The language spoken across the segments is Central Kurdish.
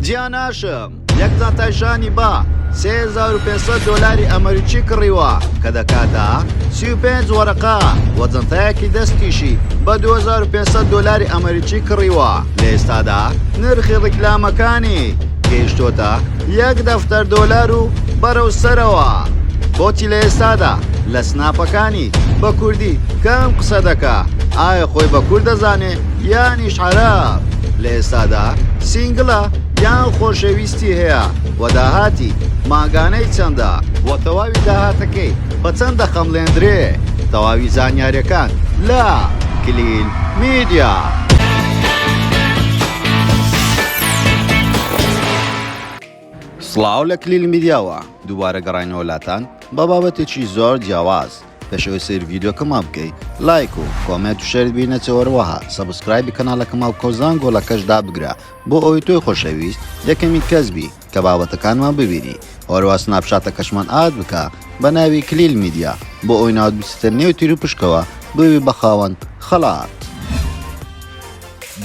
جیا ناشم یەک زاتای شانی با سێ هەزار و پێنج سەد دۆلاری ئەمەریکی کڕیوە کە دەکاتە سی و پێنج وەرەقە وە جەنتایەکی دەستیشی بە 2500 دۆلاری ئەمەریکی کڕیوە لە ئێستادا نرخی ڕیکلامەکانی گەیشتۆتە یەک دەفتەر دۆلار و بەرەو سەرەوە بۆچی لە ئێستادا لە سناپەکانی بە کوردی کەم قسە دەکا ئایا خۆی بە کورد دەزانێ یانیش عەرەب لە ئێستادا سینگلە یان خۆشەویستی هەیە و داهاتی ماگانەی چەندە و تەواوی داهاتەکەی بە چەند دەخەملێندرێ تەواوی زانیارەکان لە کلیل میدیا. سڵاو لە کلیل میدیاوە دووبارە گەڕینەوە لاتان بە بابەتێکی زۆر جیاواز پێشەوەی سەیر ڤیدیۆکەمان بکەی لایک و کۆمێت و شەرت بی نەچەوەروەها سەبسکرایبی کەناڵەکە ماڵ کۆزان گۆڵەکەش دابگرە بۆ ئەوی تۆی خۆشەویست یەکەمی کەس بی کە بابەتەکانمان ببینی ئەوەروە سناپ شاتەکەشمان ئاد بکە بە ناوی کلیل میدیا بۆ ئەوی ناوت بچتە نێو تیر و پشکەوە ببی بە خاوەند خەڵات.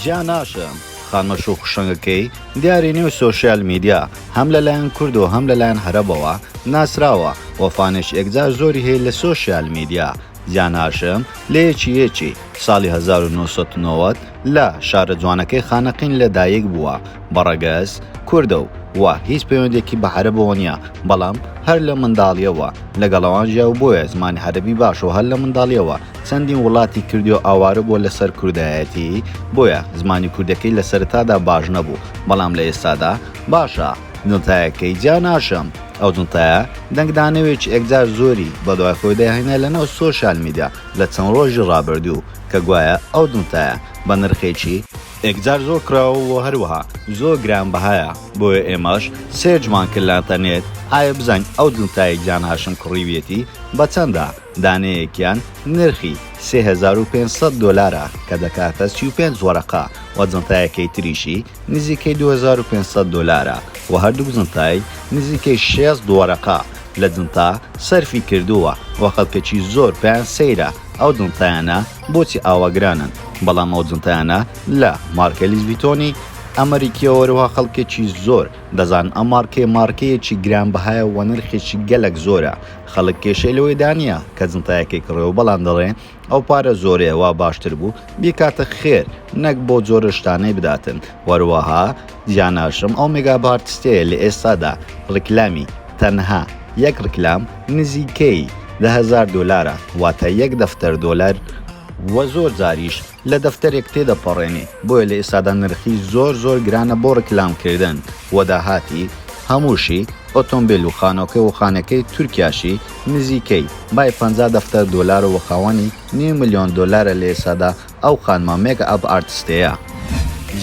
جیا ناشە خانمە شوخ و شەنگەکەی دیاری نێو سۆشیال میدیا هەم لە لایەن کورد و هەم لە لایەن هەرەبەوە ناسراوە وە فانێش ئێکجار زۆری هەیە لە سۆشیال میدیا جیا ناشە لە یەکی یەکی ساڵی هەزار و نۆ سەد و نەوەد لە شارە جوانەکەی خانەقین لە دایک بووە بە ڕەگەز کوردە و وە هیچ پەیوەندێکی بە هەرەبەوە نیە بەڵام هەر لە منداڵیەوە لەگەڵەوان ژیاو بۆیە زمانی هەرەبی باشە و هەر لە منداڵیەوە چەندین وڵاتی کردیو ئاوارە بووە لەسەر کوردایەتی بۆیە زمانی کوردەکەی لە سەرەتادا باش نەبوو بەڵام لە ئێستادا باشە جنتایەکەی جیا ناشم ئەو جنتایە دەنگ دانەوێکی ئێکجار زۆری بەدوای خۆی دەهێنێ لەناو سۆشیال میدیا لە چەند ڕۆژی ڕابردوو کە گوایە ئەو جنتایە بە نرخێکی ئێکجار زۆر کراوە و هەروەها زۆر گران بەهایە بۆیە ئێمەش سێرچمان کرد لە ئەنتەرنێت ئایا بزانین ئەو جنتایەی جیا ناشم کڕیویەتی بە چەندە؟ دانەیەکیان نرخی سێ هەزار و پێنج سەد دۆلارە کە دەکاتە سی و پێنج وەرەقە و جنتایەکەی تریشی نزیکەی دوو هەزار و پێنج سەد دۆلارە و هەردووک جنتای نزیکەی شێست وەرەقە لە جنتا سەرفی کردووە و خەڵکەکی زۆر پێیان سەیرە ئەو جنتایانە بۆچی ئاوا گرانن بەڵام ئەو جنتایانە لە مارکەی لیس ڤیتۆنی ئەمەریکییەوە هەروەها خەڵکەکی زۆر دەزانن ئەم مارکەیە مارکەیەکی گرانبەهایە و نرخێکی گەلەک زۆرە خەڵک کێشەی لەوەی دا نیە کە جنتایەکەی کڕێ و بەڵام دەڵێ ئەو پارە زۆرەیە وا باشتر بوو بیکاتە خێر نەک بۆ جۆرە شتانەی بداتن وەروەها جیا ناشم ئەو مێگا بارتستەیە لە ئێستادا ڕیکلامی تەنها یەک ڕیکلام نزیکەی دە هەزار دۆلارە واتە یەک دەفتەر دۆلار وە زۆر جاریش لە دەفتەرێک تێدەپەڕێنی بۆیە لە ئێستادا نرخی زۆر زۆر گرانە بۆ ڕیکلام کردن وە داهاتی هەمووشی ئۆتۆمبێل و خانۆکە و خانەکەی تورکیاشی نزیکەی بای پەنجا دەفتەر دۆلارە وە خاوەنی نیو ملیۆن دۆلارە لە ئێستادا ئەو خانمە مێک ئەپ ئارتستەیە.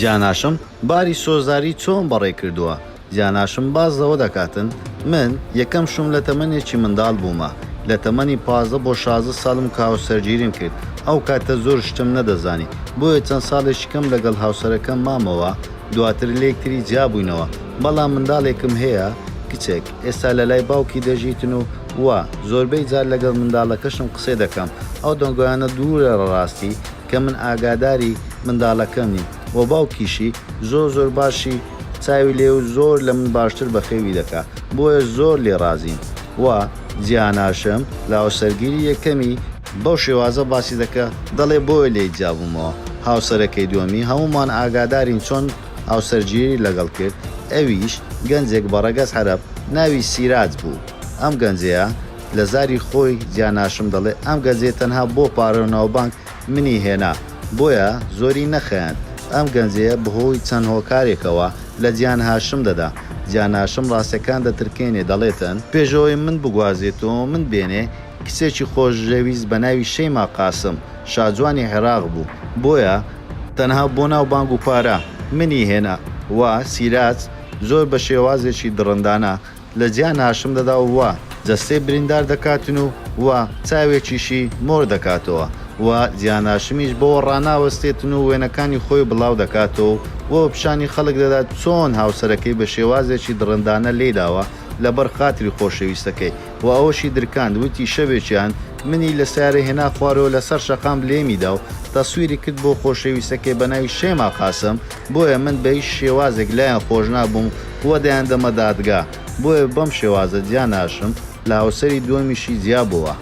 جاناشم باری سۆزداری چۆن بەڕێ کردووە؟ جاناشم باس زەوە دەکاتن من یەکەم شوم لە تەمەنێکی مندال بومە لە تەمەنی پازدە بۆ شازدە سالم کە هاوسەرگیریم کرد ئەو کاتە زۆر شتم نەدەزانی بۆیە چەند سالێکی کەم لەگەڵ هاوسەرەکەم مامەوە دواتر لەیەکتری جیابوینەوە بەڵام مندالێکم هەیە کچێک ئێستا لەلای باوکی دەژیتن و وا زۆربەی جار لەگەڵ مندالەکەشم قسەی دەکەم ئەو دەنگۆیانە دورە لە راستی کە من ئاگاداری مندالەکەم نیم وە باوکیشی زۆر زۆر باشی چاوی لێ و زۆر لە من باشتر بەخێوی دەکا بۆیە زۆر لێ ڕازیم وا جیاناشم لە هاوسەرگیری یەکەمی بەو شێوازە باسی دەکا دەڵێ بۆیە لێی جیابوومەوە هاوسەرەکەی دووەمی هەموومان ئاگادارین چۆن هاوسەرگیری لەگەڵ کرد ئەویش گەنجێک بە ڕەگەز عەرەب ناوی سیراج بوو ئەم گەنجەیە لە زاری خۆی جیاناشم دەڵێ ئەم گەنجەی تەنها بۆ پارە و ناوبانگ منی هێنا بۆیە زۆری نەخەیاند ئەم گەنجەیە بەهۆی چەند هۆکارێکەوە لە جیان هاشم دەدا جیان هاشم ڕاستیەکان دەترکێنێ دەڵێتن پێشەوەی من بگوازێت و من بێنێ کچێکی خۆشەویست بەناوی شەیما قاسم شاجوانی عێراق بوو بۆیە تەنها بۆ ناو بانگ و پارە منی هێنا وە سیراج زۆر بە شێوازێکی دڕندانە لە جیا ناشم دەدا و جەستەی بریندار دەکاتن و و چاوێکیشی مۆر دەکاتەوە و جیاناشمیش بەوە ڕاناوەستێتن و وێنەکانی خۆی بڵاو دەکاتەوە و و پیشانی خەڵک دەدات چۆن هاوسەرەکەی بە شێوازێکی دڕندانە لێی داوە لە بەر خاتری خۆشەویستەکەی و ئەوەشی درکاند وتی شەوێکیان منی لە سەیارە هێنا خوارەوە لە سەر شەقام لێمی دا و تەسویری کرد بۆ خۆشەویستەکەی بە ناوی شێما قاسم بۆیە من بە هیچ شێوازێک لایان خۆش نابووم و دەیان دەمە دادگا، بۆیە بەم شێوازە جیا ناشم لە هاوسەری دووەمیشی جیا بووە.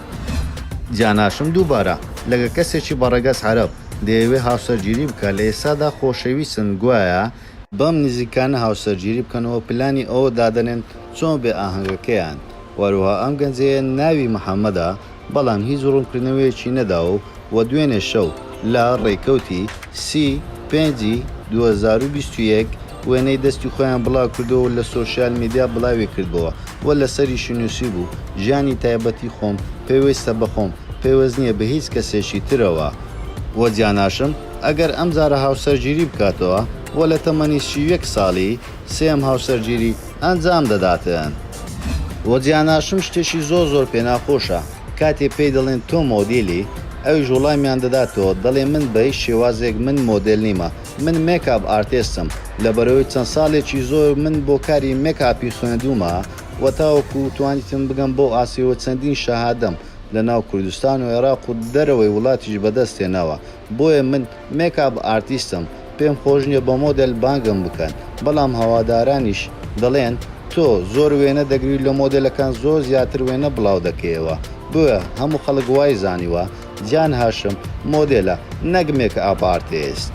جیا ناشم دووبارە لەگە کەسێکی بە ڕەگەز عەرەب دەیەوێ هاوسەرگیری بکا لە ئێستادا خۆشەویستن گوایە، بەم نزیکانە هاوسەرگیری بکەن و پلانی ئەوە دادەنێن چۆن بێ ئاهەنگەکەیان وەروەها ئەم گەنجەیە ناوی محمدە، بەڵام هیچ ڕوونکردنەوەیەکی نەداوە و دوێنێ شەو لە ڕێکەوتی سی پێنجی دوو هەزار و بیست و یەک وێنەی دەستی خۆیان بڵاوکردەوە و لە سۆشیال میدیا بڵاویکردبووە و لەسەریشی نووسیبوو ژیانی تایبەتی خۆم پێویستە بە خۆم پێوست نییە بە هیچ کەسێکی ترەوە و جیاناشم ئەگەر ئەمجارە هاوسەرگیری بکاتەوە و لە تەمەنی سی و یەک ساڵی سێیەم هاوسەرگیری ئەنجام دەداتن. وە جیاناشم شتێکی زۆر زۆر پێ ناخۆشە کاتێ پێی دەڵێن تۆ مۆدیلی ئەویش وڵامیان دەداتەوە دەڵێ من بە هیچ شێوازێک من مۆدێل نیمە من مێکاپ ئارتێستم لەبەرەوەی چەند ساڵێکی زۆر من بۆ کاری مێکاپی خوێندومە وە تاوەکو توانیتم بگەم بەو ئاستەی وە چەندین شەهادەم لەناو کوردستان و عێراق و دەرەوەی وڵاتیش بەدەست هێناوە بۆیە من مێکاپ ئارتیستم پێم خۆش نیە بە مۆدێل بانگم بکەن بەڵام هەوادارانیش دەڵێن تۆ زۆر وێنە دەگری لۆ مۆدێلەکان زۆر زیاتر وێنە بڵاو دەکەیەوە بۆیە هەموو خەڵک وای زانیوە جان هاشم مۆدێلە نەک مێکئاپ ئارتیست.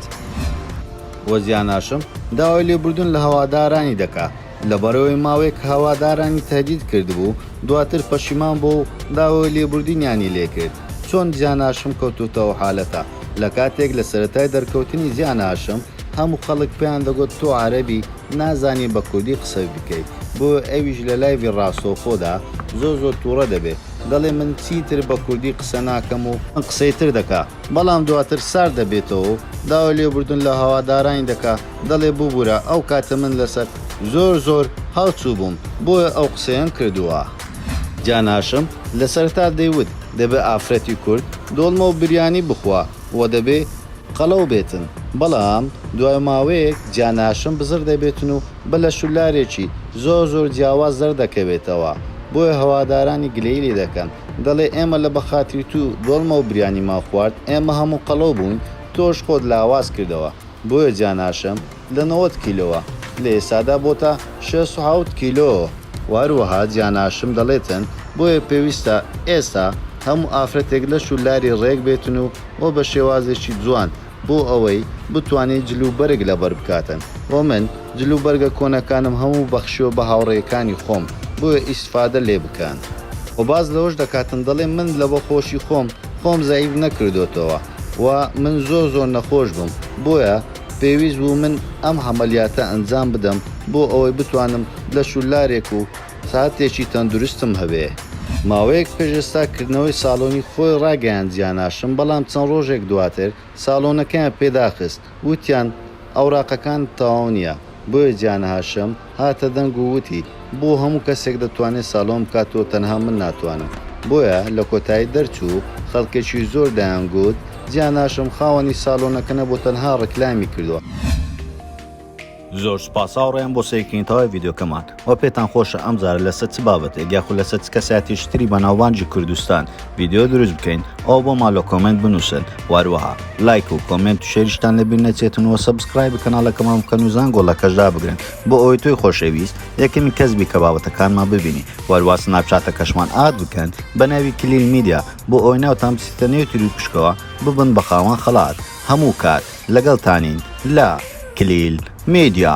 وە جان هاشم داوای لێبوردن لە هەوادارانی دەکا. لەبەرەوەی ماوەیەک هەوادارانی تەهدید کردبوو، دواتر پەشیمان بووە و داوای لێبوردنیانی لێکرد. چۆن زیان هاشم کەوتووتە ئەو حالەتە؟ لە کاتێک لە سەرەتای دەرکەوتنی زیان هاشم هەموو خەڵک پێیان دەگوت تۆ عەرەبی نازانی بە کوردی قسەت بکەیت، بۆیە ئەویش لە لایڤی ڕاستەوخۆدا زۆر زۆر توڕە دەبێت دەڵێت من چیتر بە کوردی قسە ناکەم و قسەی تر دەکات. بەڵام دواتر سارد دەبێتەوە و داوای لێبوردن لە هەوادارانی دەکا، دەڵێ ببورە ئەو کاتە من لەسەر زۆر زۆر هەڵچوو بووم بۆیە ئەو قسەیەم کردووە. جان هاشم لە سەرەتا دەیوت دەبێ ئافرەتی کورد دۆڵمە و بریانی بخوا و دەبێ قەڵەو بێتن، بەڵام دوای ماوەیەک جان هاشم بزڕ دەبێتن و بە لەشولارێکی زۆر زۆر جیاواز دەردەکەوێتەوە، بۆیە هەوادارانی گلەیی لێ دەکەن. دەڵێ ئێمە لە بەخاتری تو دۆڵمەو بریانی مان خوارد ئێمە هەموو قەڵەو بووین تۆش خۆت لاواز کردەوە بۆیە جاناشم لە نەوەد کیلۆوە لە ئێستادا بۆتە شەست و حەوت کیلۆ و هەروەها جاناشم دەڵێتن بۆیە پێویستە ئێستا هەموو ئافرەتێک لەش و لاری ڕێک بێتن و و بە شێوازێکی جوان بۆ ئەوەی بتوانێت جل و بەرگ لەبەر بکاتن و من جل و بەرگە کۆنەکانم هەموو بەخشیوە بە هاوڕێکانی خۆم بۆیە ئیسفادە لێ بکەن. وە باس لەوەش دەکاتن دەڵێ من لەبە خۆشی خۆم خۆم زەعیف نەکردۆتەوە و من زۆر زۆر نەخۆش بم بۆیە پێویست بوو من ئەم هەمەلیاتە ئەنجام بدەم بۆ ئەوەی بتوانم لەش و لارێک و ساتێکی تەندروستم هەبێ. ماوەیەک پێش ئێستا کردنەوەی ساڵۆنی خۆی ڕاگەیاند جیاناشم بەڵام چەند ڕۆژێک دواتر ساڵۆنەکەیان پێ داخست وتیان ئەوراقەکانت تەواو نیە بۆیە جیانهاشم هاتە دەنگ و وتی بۆ هەموو کەسێک دەتوانێ ساڵۆن بکات تۆ تەنها من ناتوانم بۆیە لە کۆتایی دەرچوو خەڵکێکی زۆر دەیان گوت جیاناشم خاوەنی ساڵۆنەکە نەبوو تەنها ڕیکلامی کردوە. زۆر سوپاس هاوڕێیان بۆ سەیرکردنی تەواوی ڤیدیۆکەمان وە پێتان خۆشە ئەم جارە لەسەر چ بابەتێک یاخود لەسەر چ کەسایەتیەکی تری بەناوبانگی کوردستان ڤیدیۆ دروست بکەین ئەوا بۆمان لە کۆمێنت بنووسن و هەروەها لایک و کۆمێنت و شێریشتان لەبیر نەچێتن وە سەبسکرایبی کەناڵەکەمان بکەن و زەنگۆڵەکەش دابگرن بۆ ئەوەی تۆی خۆشەویست یەکەمین کەس بی کە بابەتەکانمان ببینی و هەروا سناپچاتەکەشمان ئاد بکەن بە ناوی کلیل میدیا بۆ ئەوەی ناوتان بچیتە نێو تیروپشکەوە ببن بە خاوەن خەڵات هەموو کات لەگەڵتانین لە کلیل میدیا.